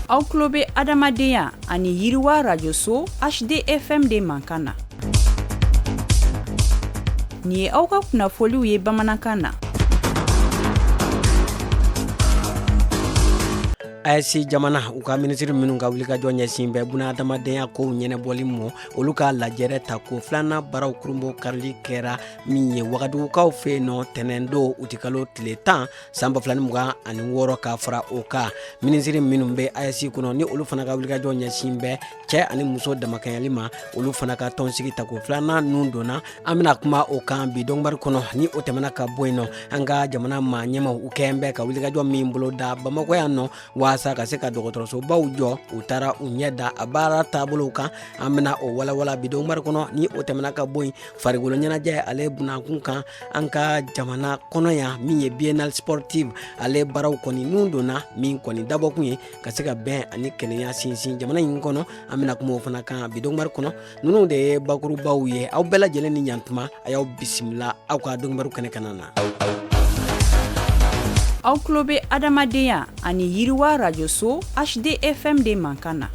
aw tulo bɛ adamadenya ani yiriwa rajoso hdfm de mankan na nin ye aw ka kunnafoliw ye bamanankan na AES jamana u ka minisiri minnu ka wulikajɔ ɲɛsin bɛ buna adamadenya kow ɲɛnabɔli ma olu ka lajɛrɛ tako filanan baaraw kurunbonkarili kɛra min ye wagadugukaw fɛ yen nɔ tɛnɛndon utikalo tile tan san ba fila ni mugan ani wɔɔrɔ ka fara o kan minisiri minnu bɛ AES kɔnɔ ni olu fana ka wulikajɔ ɲɛsin bɛ cɛ ani muso damakɛɲɛli ma olu fana ka tɔnsigi tako filanan nun donna an bɛna kuma o kan bi donkibaru kɔnɔ ni o tɛmɛna ka bɔ yen nɔ an ka jamana maa ɲɛmaw u kɛn bɛ ka wulikajɔ min boloda bamakɔ yan nɔ waasa ka se ka dɔgɔtɔrɔsobaw jɔ u taara u ɲɛ da a baara taabolow kan an bɛna o walawala bi donkibaru kɔnɔ ni o tɛmɛna ka bɔ yen farikolo ɲɛnajɛ ale bunakun kan an ka jamana kɔnɔ yan min ye biennale sportive ale baaraw kɔni nun donna min kɔni dabɔkun ye ka se ka bɛn ani kelenya sinsin jamana in kɔnɔ an bɛna kuma o fana kan bi donkibaru kɔnɔ ninnu de ye bakurubaw ye aw bɛɛ lajɛlen ni ɲantuma a y'aw bisimila aw ka donkibaru kɛnɛ kana na aw tulo bɛ adamadenya ani yiriwa rajoso hdfm de mankan na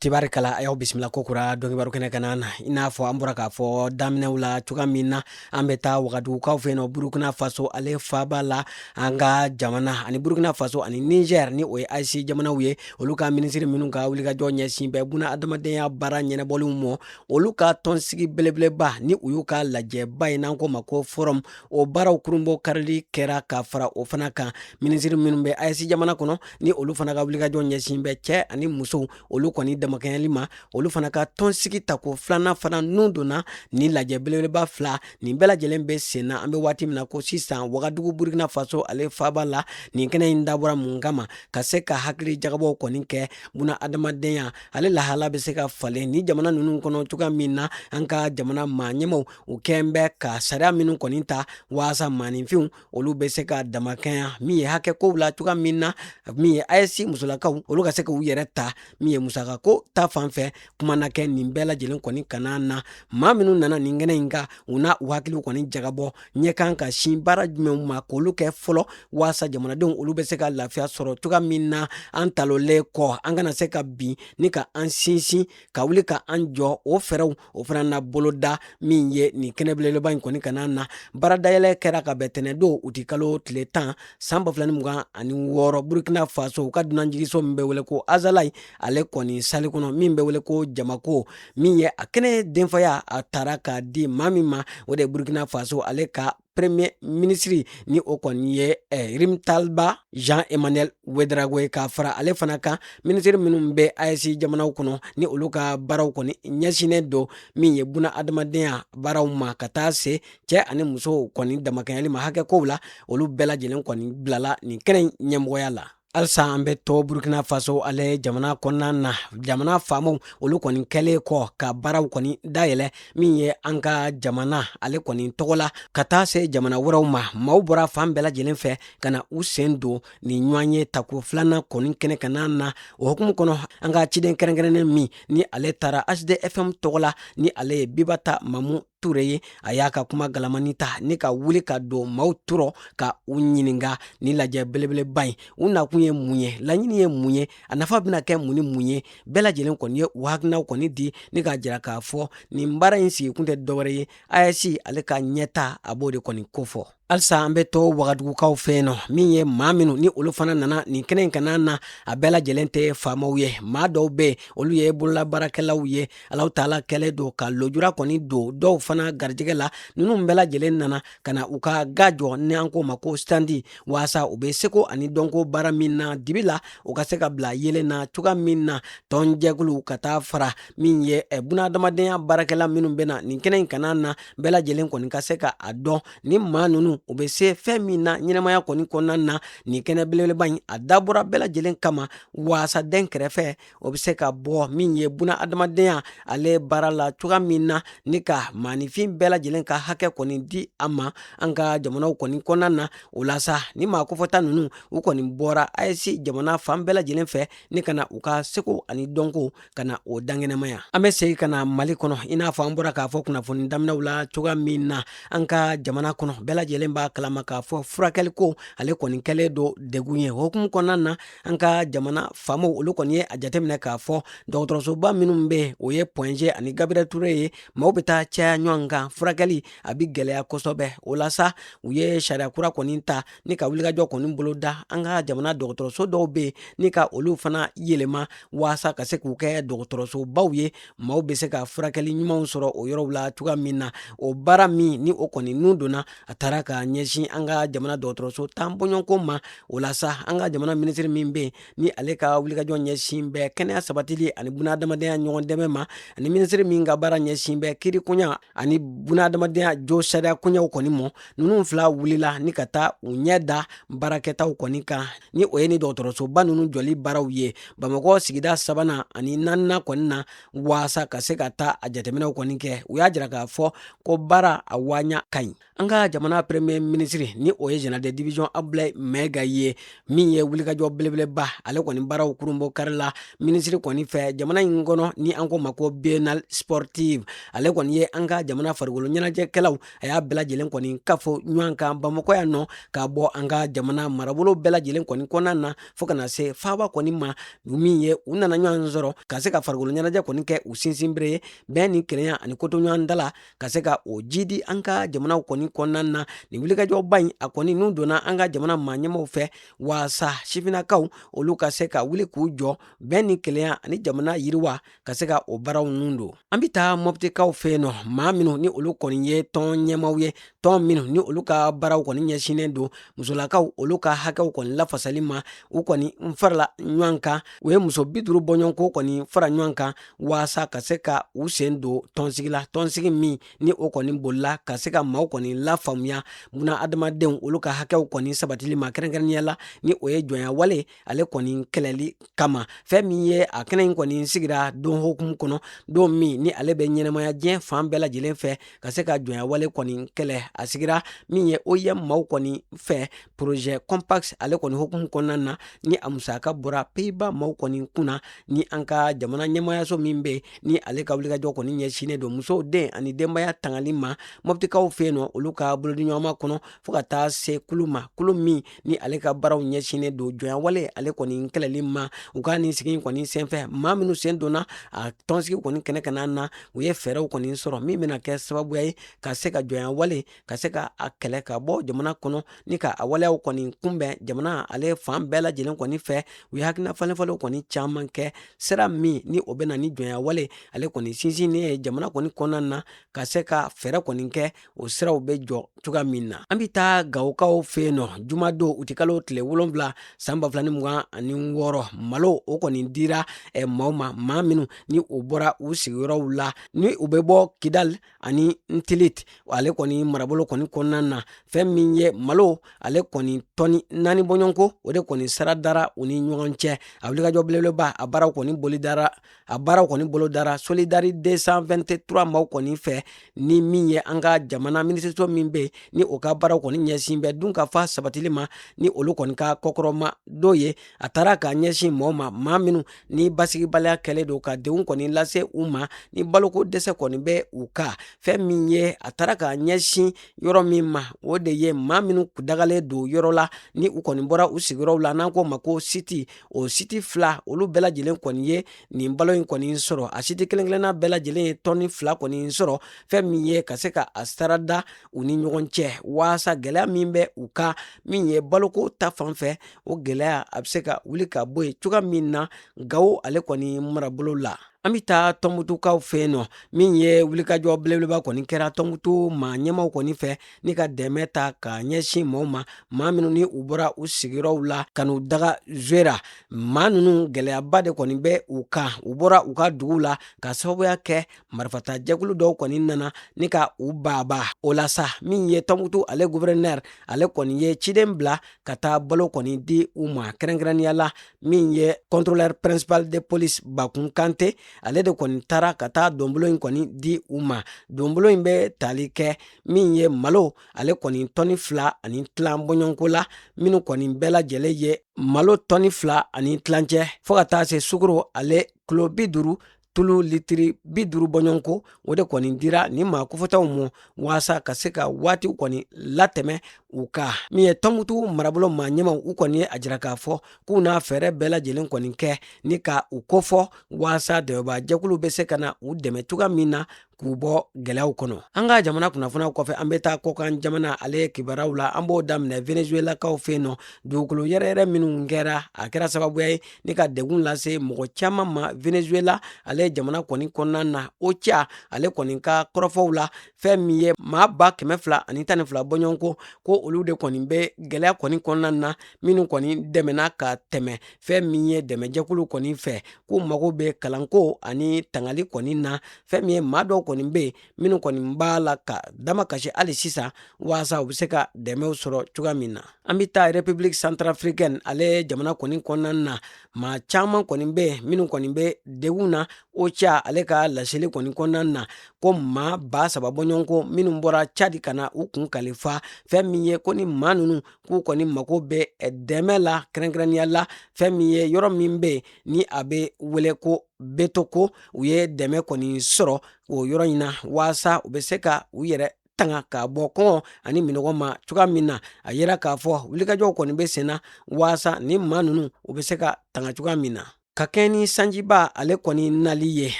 tibari kala a y'aw bisimila kokura donkibaru kɛnɛ kana na i n'a fɔ an bɔra k'a fɔ daminɛw la cogoya min na an bɛ taa wagadugukaw fɛ yen nɔ burukina faso ale faaba la an ka jamana ani burukina faso ani niger ni o ye AES jamanaw ye olu ka minisiri minnu ka wulikajɔ ɲɛsin bɛ buna adamadenya baara ɲɛnabɔliw ma olu ka tɔnsigi belebeleba ni o y'u ka lajɛba ye n'an k'o ma ko forum o baaraw kurunbonkarili kɛra ka fara o fana kan minisiri minnu bɛ AES jamana kɔnɔ ni olu fana ka wulikajɔ ɲɛsin bɛ cɛ ani musow olu kɔni damakɛɲɛli ma olu fana ka tɔnsigi tako filanan fana nun donna ni lajɛ belebeleba fila nin bɛɛ lajɛlen bɛ sen na an bɛ waati min na ko sisan wagadugu burkina faso ale faaba la nin kɛnɛ in dabɔra mun kama ka se ka hakili jagabɔw kɔni kɛ buna adamadenya ale lahala bɛ se ka falen ni jamana ninnu kɔnɔ cogoya min na an ka jamana maa ɲɛmaw u kɛlen bɛ ka sariya minnu kɔni ta waasa maaninfinw olu bɛ se ka damakɛɲɛ min ye hakɛ kow la cogoya min na min ye AES musolakaw olu ka se k'u yɛrɛ ta min ye musaka ko ta fan fɛ kuma na kɛ nin bɛɛ lajɛlen kɔni kana na maa minnu nana nin kɛnɛ in kan u na u hakiliw kɔni jagabɔ ɲɛ kan ka sin baara jumɛnw ma k'olu kɛ fɔlɔ waasa jamanadenw olu bɛ se ka lafiya sɔrɔ cogoya min na an talonnen kɔ an kana se ka bin nka an sinsin ka wuli ka an jɔ o fɛɛrɛw o fana na boloda min ye nin kɛnɛ belebeleba in kɔni kana na baara dayɛlɛ kɛra ka bɛn tɛnɛndon utikalo tile tan san ba fila ni mugan ani wɔɔrɔ burkina faso u ka dunanjiginso min bɛ wele ko azalai ale kɔni sali kɔnɔ min bɛ wele ko jamako min ye a kɛnɛ denfaya a tara k'a di maa min ma o de ye burkina faso ale ka premier minisiri ni o kɔni ye eh, rimtalba jean emmanuel ouédraogo ye ka fara ale fana kan minisiri minnu bɛ aes jamanaw kɔnɔ ni olu ka baaraw kɔni ɲɛsinnen don min ye buna adamadenya baaraw ma ka taa se cɛ ani musow kɔni damakɛɲɛli ma hakɛ kow la olu bɛɛ lajɛlen kɔni bilala nin kɛnɛ ɲɛmɔgɔya la halisa an bɛ to burkina faso ale jamana kɔnɔna na jamana faamaw olu kɔni kɛlen kɔ ka baaraw kɔni dayɛlɛ min ye an ka jamana ale kɔni tɔgɔ la ka taa se jamana wɛrɛw ma maaw bɔra fan bɛɛ lajɛlen fɛ ka na u sen don nin ɲɔgɔnye tako filanan kɔni kɛnɛ kana na o hukumu kɔnɔ an ka ciden kɛrɛnkɛrɛnnen min ni ale taara hdfm tɔgɔ la ni ale ye bibata mamu ture ye a y'a ka kuma galamani ta ni ka wuli ka don maaw tɔɔrɔ ka u ɲininga nin lajɛ belebeleba in u nakun ye mun ye laɲini ye mun ye a nafa bɛna kɛ mun ni mun ye bɛɛ lajɛlen kɔni ye u hakilinaw kɔni di ni k'a jira k'a fɔ nin baara in sigikun tɛ dɔwɛrɛ ye aes ale ka ɲɛtaa b'o de kɔni kofɔ halisa an bɛ to wagadugukaw fɛ yen nɔ min ye maa minnu ni olu fana nana nin kɛnɛ in kana na a bɛɛ lajɛlen tɛ faamaw ye maa dɔw bɛ yen olu ye bololabaarakɛlaw ye alahu taala kɛlen don ka lojura kɔni don dɔw fana garijɛgɛ la ninnu bɛɛ lajɛlen nana ka na u ka ga jɔ ni an k'o ma ko standi waasa u bɛ seko ani dɔnko baara min na dibi la u ka se k'a bila yeelen na cogoya min na tɔnjɛkulu ka taa fara min ye bunahadamadenya baarakɛla minnu bɛ na nin kɛnɛ in kana na bɛɛ lajɛlen kɔni ka se ka a dɔn nin maa nunu u be se fɛn min na ɲɛnamaya kɔni kɔnɔna na nin kɛnɛ belebeleba in a dabɔra bɛɛ lajɛlen kama waasa dɛnkɛrɛfɛ o be se ka bɔ min ye buna adamadenya ale baara la cogoya min na ni ka maanifin bɛɛ lajɛlen ka hakɛ kɔni di a ma an ka jamanaw kɔni kɔnɔna na o la sa nin maa kofɔta nunu u kɔni bɔra aes jamana fan bɛɛ lajɛlen fɛ ni ka na u ka seko ani dɔnko ka na o dankɛnɛmaya an bɛ segin ka na mali kɔnɔ i n'a fɔ an bɔra k'a fɔ kunnafoni daminɛw la cogoya min na an ka jamana kɔnɔ bɛɛ lajɛlen b'a kalama k'a fɔ furakɛli ko ale kɔni kɛlen don degun ye o hukumu kɔnɔna na an ka jamana faamaw olu kɔni ye a jateminɛ k'a fɔ dɔgɔtɔrɔsoba minnu be o ye pɔnje ani gabriel ture ye maaw be taa caya ɲɔgɔn kan furakɛli a bi gwɛlɛya kosɔbɛ o la sa u ye sariya kura kɔni ta ni ka wulikajɔ kɔni bolo da an ka jamana dɔgɔtɔrɔso dɔw bɛ yen ni ka olu fana yɛlɛma waasa ka se k'u kɛ dɔgɔtɔrɔsobaw ye maaw bɛ se ka furakɛli ɲumanw sɔrɔ o yɔrɔw la cogoya min na o baara min ni o kɔni nun donna a taara ka ɲɛsin an ka jamana dɔgɔtɔrɔso tan bɔɲɔgɔnko ma o la sa an ka jamana minisiri min bɛ yen ni ale ka wulikajɔ ɲɛsin bɛ kɛnɛya sabatili ani bunahadamadenya ɲɔgɔn dɛmɛ ma ani minisiri min ka baara ɲɛsin bɛ kiirikoɲa ani bunahadamadenya josariya koɲaw kɔni ma ninnu fila wulila ni ka taa u ɲɛ da baarakɛtaw kɔni kan ni o ye ni dɔgɔtɔrɔsoba ninnu jɔli baaraw ye bamakɔ sigida sabanan ani nanina kɔni na waasa ka se ka taa a jateminɛw kɔni kɛ u y'a jira k'a fɔ ko baara a waɲa ka ɲi an ka jamana premier ministre ni o ye général de division abdulayi mɛga ye min ye wulikajɔ belebeleba ale kɔni baaraw kurunbonkarila minisiri kɔni fɛ jamana in kɔnɔ ni an k'o ma ko biennale sportive ale kɔni ye an ka jamana farikolo ɲɛnajɛkɛlaw a y'a bɛɛ lajɛlen kɔni kafo ɲɔgɔn kan bamakɔ yan nɔ ka bɔ an ka jamana marabolo bɛɛ lajɛlen kɔni kɔnɔna na fo ka na se faaba kɔni ma min ye u nana ɲɔgɔn sɔrɔ ka se ka farikolo ɲɛnajɛ kɔni kɛ u sinsinbere ye bɛn ni kelenya ani kotoɲɔgɔntala ka se ka o jidi an ka jamanaw kɔni kɔnɔna na nin wulikajɔba in a kɔni nun donna an ka jamana maa ɲɛmaw fɛ waasa sifinnakaw olu ka se ka wuli k'u jɔ bɛn ni kelenya ani jamana yiriwa ka se ka o baaraw nun don an be taa mɔptikaw fɛ yen nɔ maa minw ni olu kɔni ye tɔn ɲɛmaw ye tɔn minw ni olu ka baaraw kɔni ɲɛsinnen don musolakaw olu ka hakɛw kɔni lafasali ma u kɔni n farala ɲɔgɔn kan u ye muso bi duuru bɔɲɔgɔnko kɔni fara ɲɔgɔn kan waasa ka se ka u sen don tɔnsigi la tɔnsigi min ni o kɔni bolila ka se ka maaw kɔni lafaamuya bunadamadenw olu ka hakɛw kɔni sabatili ma kɛrɛnkɛrɛnnenya la ni o ye jɔnyawale ale kɔni kɛlɛli kama fɛn min ye a kɛnɛ in kɔni sigira don hokumu kɔnɔ don min ni ale bɛ ɲɛnɛmaya diɲɛ fan bɛɛ lajɛlen fɛ ka se ka jɔnyawale kɔni kɛlɛ a sigira min ye oim maaw kɔni fɛ porozɛ compass ale kɔni hokumu kɔnɔna na ni a musaka bɔra peyiba maaw kɔni kunna ni an ka jamana ɲɛmayaso min bɛ ni ale ka wulikajɔ kɔni ɲɛsinnen don musow den ani denbaya tangali ma mɔptikaw fɛ yen nɔ olu ka bolodiɲɔgɔnma kɔnɔ fo ka taa se kulu ma kulu min ni ale ka baaraw ɲɛsinnen don jɔnyawale ale kɔni kɛlɛli ma u ka nin sigi kɔni senfɛ maa minnu sen donna a tɔnsigi kɔni kɛnɛ kan na u ye fɛɛrɛw kɔni sɔrɔ min bɛna kɛ sababuya ye ka se ka jɔnyawale ka se ka a kɛlɛ ka bɔ jamana kɔnɔ ni ka a waleyaw kɔni kunbɛn jamana ale fan bɛɛ lajɛlen kɔni fɛ u ye hakilina falenfalen kɔni caman kɛ sira min ni o bɛ na ni jɔnyawale ale kɔni sinsinnen ye jamana kɔni kɔnɔna na ka se ka fɛɛrɛ kɔni kɛ o siraw bɛ jɔ cogoya min na an bɛ taa gawokaw fɛ yen nɔ jumadon utikalo tile wolonwula san ba fila ni mugan ani wɔɔrɔ malo o kɔni dira eh, maaw ma maa minnu ni u bɔra u sigiyɔrɔw la ni u bɛ bɔ kidali ani ntilit ale kɔni marabolo kɔni kɔnɔna na fɛn min ye malo ale kɔni tɔni naani bɔɲɔgɔnko o de kɔni sara dara u ni ɲɔgɔn cɛ a wulikajɔ belebeleba a baaraw kɔni boli dara a baaraw kɔni bolo dara solidarité 223 maw kɔni fɛ ni min ye an ka jamana minisiriso min bɛ ni o ka baaraw kɔni ɲɛsin bɛ dunkafa sabatili ma ni olu kɔni ka kɔkɔrɔmadon ye a taara k'a ɲɛsin maaw ma maa minnu ni basigibaliya kɛlen don ka degun kɔni lase u ma ni baloko dɛsɛ kɔni bɛ u kan fɛn min ye a taara k'a ɲɛsin yɔrɔ min ma o de ye maa minnu dagalen don yɔrɔ la ni u kɔni bɔra u sigiyɔrɔw la n'an k'o ma ko siti o siti fila olu bɛɛ lajɛlen kɔni ye nin balo in kɔni sɔrɔ a siti kelen kelenna bɛɛ lajɛlen ye tɔni fila kɔni sɔrɔ fɛn min ye ka se ka a sarada u ni ɲɔgɔn cɛ waasa gɛlɛya min bɛ u kan min ye baloko ta fan fɛ o gɛlɛya a bɛ se ka wuli ka bɔ yen cogoya min na gawo ale kɔni marabolo la an bɛ taa tɔnbutukaw fɛ yen nɔ min ye wulikajɔ belebeleba kɔni kɛra tɔnbutu maa ɲɛmaw kɔni fɛ ni ka dɛmɛ ta ka ɲɛsin maaw ma maa minnu ni u bɔra u sigiyɔrɔw la ka n'u daga zuwera maa ninnu gɛlɛyaba de kɔni bɛ u kan u bɔra u ka dugu la ka sababuya kɛ marifata jɛkulu dɔw kɔni nana ni ka u baabaa o la sa min ye tɔnbutu ale guvɛrɛnɛri ale kɔni ye ciden bila ka taa balo kɔni di u ma kɛrɛnkɛrɛnnenya la min ye contrôleur principal de police bakun kante ale de kɔni taara ka taa donbolo in kɔni di u ma donbolo in bɛ tali kɛ min ye malo ale kɔni tɔni fila ani tilan bɔɲɔgɔnko la minnu kɔni bɛɛ lajɛlen ye malo tɔni fila ani tilancɛ fo ka taa se sukoro ale kilo bi duru tulu litiri bi duru bɔɲɔgɔnko o de kɔni dira ni maa kofɔtaw ma waasa ka se ka waatiw kɔni latɛmɛ u kan min ye tɔnbutu marabolo maa ɲɛmaw u kɔni ye a jira k'a fɔ k'u na fɛɛrɛ bɛɛ lajɛlen kɔni kɛ ni ka u kofɔ waasa dɛmɛbaajɛkulu bɛ se ka na u dɛmɛ cogoya min na k'u bɔ gɛlɛyaw kɔnɔ an ka jamana kunnafoniyaw kɔfɛ an bɛ taa kɔkan jamana ale kibaruyaw la an b'o daminɛ venezuelakaw fɛ yen nɔ dugukolo yɛrɛyɛrɛ minnu kɛra a kɛra sababuya ye ni ka degun lase mɔgɔ caman ma venezuela ale jamana kɔni kɔnɔna na ocha ale kɔni ka kɔrɔfɔw la fɛn min ye maa ba kɛmɛ fila ani tan ni fila bɔɲɔgɔnko ko olu de kɔni bɛ gɛlɛya kɔni kɔnɔna na minnu kɔni dɛmɛna ka tɛmɛ fɛn min ye dɛmɛjɛkulu kɔni fɛ k'u mago bɛ kalanko ani tangali kɔni na fɛn min ye maa dɔw kɔni bɛ yen minnu kɔni b'a la ka damakasi hali sisan waasa u bɛ se ka dɛmɛw sɔrɔ cogoya min na an bɛ taa république centrafricaine ale jamana kɔni kɔnɔna na maa caman kɔni bɛ yen minnu kɔni bɛ degun na ocha ale ka laseli kɔni kɔnɔna na ko maa ba saba bɔɲɔgɔnko minnu bɔra cadi ka na u kun kalifa fɛn min ye ko ni maa ninnu k'u kɔni mago bɛ dɛmɛ la kɛrɛnkɛrɛnnenya la fɛn min ye yɔrɔ min bɛ yen ni a bɛ wele ko betoko u ye dɛmɛ kɔni sɔrɔ o yɔrɔ in na waasa u bɛ se ka u yɛrɛ tanga ka bɔ kɔngɔ ani minɔgɔ ma cogoya min na a yira k'a fɔ wulikajɔw kɔni bɛ senna waasa ni maa ninnu u bɛ se ka tanga cogoya min na ka kɛɲɛ ni sanjiba ale kɔni nali ye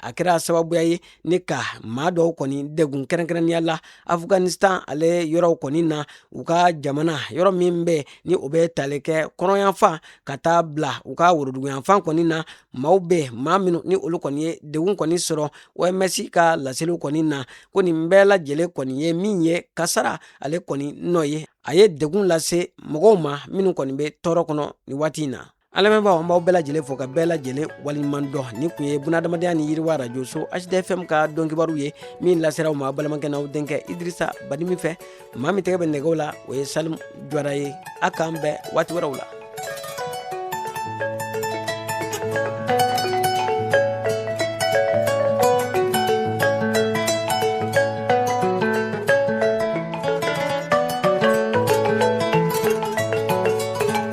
a kɛra sababuya ye ni ka maa dɔw kɔni degun kɛrɛnkɛrɛnnenya la afghanistan ale yɔrɔw kɔni na u ka jamana yɔrɔ min bɛ ni o bɛ tali kɛ kɔnɔyanfan ka taa bila u ka woroduguyanfan kɔni na maaw bɛ maa minnu ni olu kɔni ye degun kɔni sɔrɔ oms ka laseliw kɔni na ko nin bɛɛ lajɛlen kɔni ye min ye kasara ale kɔni nɔ ye a ye degun lase mɔgɔw ma minnu kɔni bɛ tɔɔrɔ kɔnɔ nin waati in na an lamɛnbaaw an b'aw bɛɛ lajɛlen fo ka bɛɛ lajɛlen waliɲuman dɔn nin tun ye bunadamadenya ni yiriwa radio so hdfm ka don kibaru ye min lasera aw ma balimakɛ n'aw denkɛ idirisa badimi fɛ maa min tɛgɛ bɛ nɛgɛw la o ye salim jawara ye a k'an bɛn waati wɛrɛw la